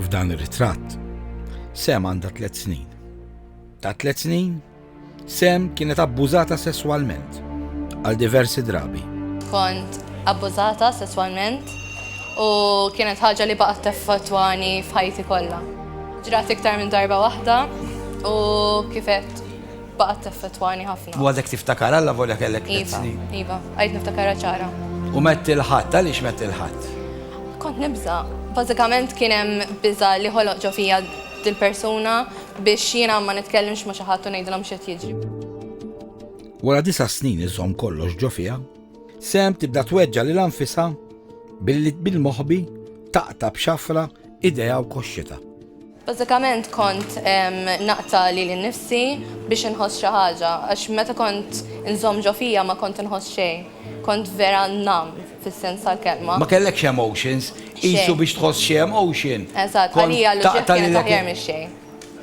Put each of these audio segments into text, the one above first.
F'dan ir-ritratt, Sam għandha tliet snin. Ta' tliet snin, Sam kienet abbużata sesswalment għal diversi drabi. Kont abbużata sesswalment u kienet ħaġa li baqgħet teffettwani f'ħajti kollha. Ġrat iktar minn darba waħda u kifet baqgħet teffettwani ħafna. U għadek tiftakar Alla volja kellek tliet iva, snin. Iva, għajt niftakarha ċara. U metti l-ħadd, għaliex metti l-ħadd? Kont nibża. Bażikament kien hemm biża li ħoloq ġo fija dil-persuna biex jiena ma nitkellimx ma xi ħadd u ngħidilhom x'qed jiġri. Wara disa' snin iżomm kollox ġo fija, sem tibda tweġġa' lil anfisha billi bil-moħbi taqta' b'xafra idejha u koxxita. Bażikament kont naqta' lili nnifsi biex inħoss xi ħaġa, għax meta kont inżomm ġo fija ma kont inħoss xejn. Kont vera nam, fis-sens tal-kelma. Ma kellekx emotions, qisu biex tħoss xi emotion. Eżatt, għalija l-uġigħ kienet aħjar mix-xejn.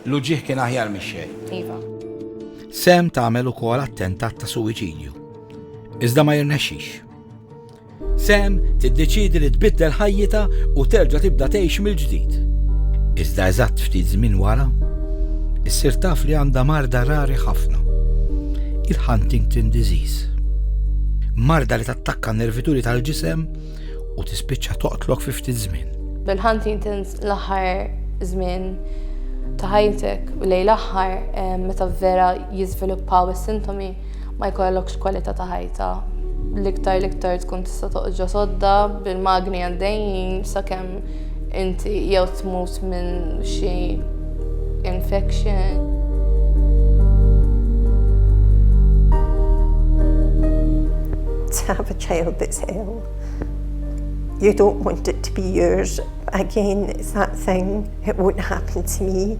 L-uġigħ kien aħjar mix-xejn. Iva. Sam tagħmel ukoll attentat ta' suwiċidju, iżda ma jirnexxix. Sam tiddeċiedi li tbiddel ħajjitha u terġa' tibda tgħix mill-ġdid. Iżda eżatt ftit żmien wara, issir taf li għandha marda rari ħafna, il-Huntington disease. Marda li tattakka nervituri tal-ġisem u tispiċċa toqtlok fi ftit żmien. Bil-Huntington l-aħħar żmien ta' ħajtek u lejl aħħar eh, meta vera jiżviluppaw is-sintomi, ma jkollokx kwalità ta' ħajta. L-iktar l-iktar tkun tista' toqġa sodda bil-magni għaddejjin sakemm inti jew tmut minn xi infection. Tafx jew tisew. You don't want it to be yours again, is that thing, it won't happen to me.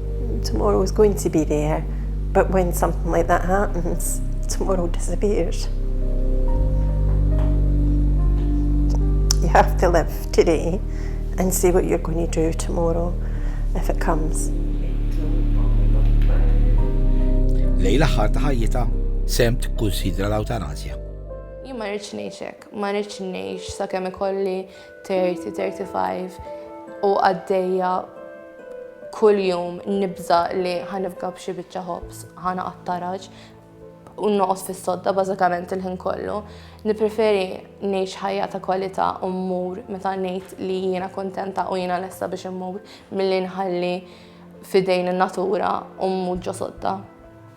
Tomorrow is going to be there, but when something like that happens, tomorrow disappears. You have to live today and see what you're going to do tomorrow if it comes. Lej l-aħħar ta' ħajjita, Sam tikkunsidra l-awtanazja. Jien ma rridx ngħix hekk, ma rridx ngħix sakemm ikolli 30, 35 u għaddejja kuljum nibża li ħanifga b'xi biċċa ħobs, ħana qattaraġ u noqos fis-sodda bażikament il-ħin kollu. Nipreferi ngħix ħajja ta' kwalità u mmur meta ngħid li jiena kontenta u jiena lesta biex immur milli nħalli fidejn in-natura u mmur ġo sodda.